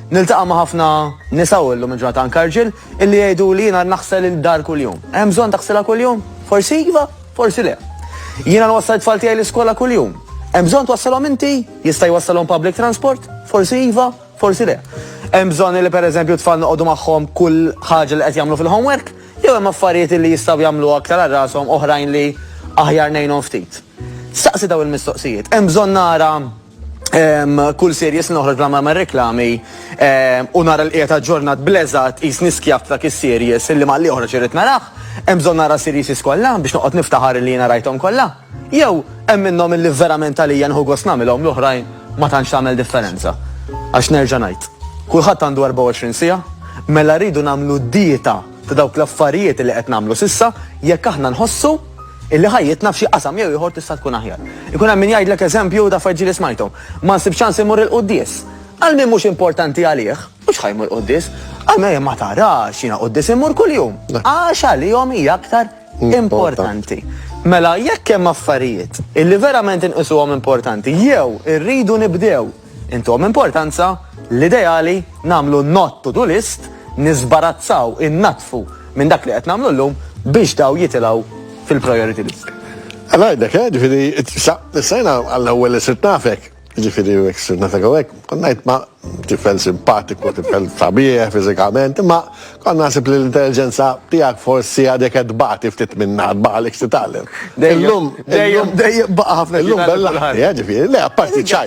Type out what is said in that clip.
Niltaqa' ma' ħafna nisa u llum il-ġurnata anke rġiel illi jgħiduli jiena naħsel id-dar kuljum. Hemm bżonn taħsilha kuljum? Forsi iva, forsi le. Jiena nwassal it-tfal tiegħi l-iskola kuljum. Hemm bżonn twassalhom inti? Jista' jwassalhom public transport? Forsi iva, forsi le. Hemm bżonn illi pereżempju t-tfal noqogħdu magħhom kull ħaġa li qed jagħmlu fil-homework? Jew hemm affarijiet illi jistgħu jagħmlu aktar għal rashom oħrajn li aħjar ngħinhom ftit? Staqsi dawn il-mistoqsijiet. Hemm bżonn nara Kull series li noħroġ bla ma reklami u nara l-qiegħed aġġornat bl-eżatt qis niskjav ta' dak is-series li malli joħroġ irrid narah. Hemm bżonn nara series kollha biex noqgħod niftaħar li jiena rajthom kollha? Jew hemm minnhom illi verament għalija nieħu gost nagħmilhom l-oħrajn ma tantx tagħmel differenza? Għax nerġa' ngħid, kulħadd għandu 24 siegħa, mela rridu nagħmlu dieta ta' dawk l-affarijiet li qed nagħmlu s'issa jekk aħna nħossu illi ħajjitna f'xi qasam jew ieħor tista' tkun aħjar. Ikun hemm min jgħidlek eżempju ta' affarijiet ġieli smajthom, Ma nsibx ċans immur il-quddies. Għal min mhux importanti għalih, mhux ħa jmur quddies. Għal min jgħid ma tarax, jiena quddies immur kuljum. Għax għalihom hija aktar importanti. Mela jekk hemm affarijiet illi verament inqisuhom importanti jew irridu nibdew Intuhom importanza, l-ideali, nagħmlu not to do list, niżbarazzaw, innaddfu minn dak li qed nagħmlu llum biex dawn jitilgħu fil-priority list. Għala għidlek, eh, ġifiri, issa jena għall-ewel li sirt nafek, ġifiri, jek sirt nafek għawek, konnajt ma tifel simpatiku, tifel tabieħ, fizikament, ma konna nasib li l-intelligenza tijak forsi għadek għadbati ftit minna għadbaqa l-ek titallem. Dejjem, dejjem, dejjem baqa ħafna. Illum bella, ġifiri, le, apparti ċajt.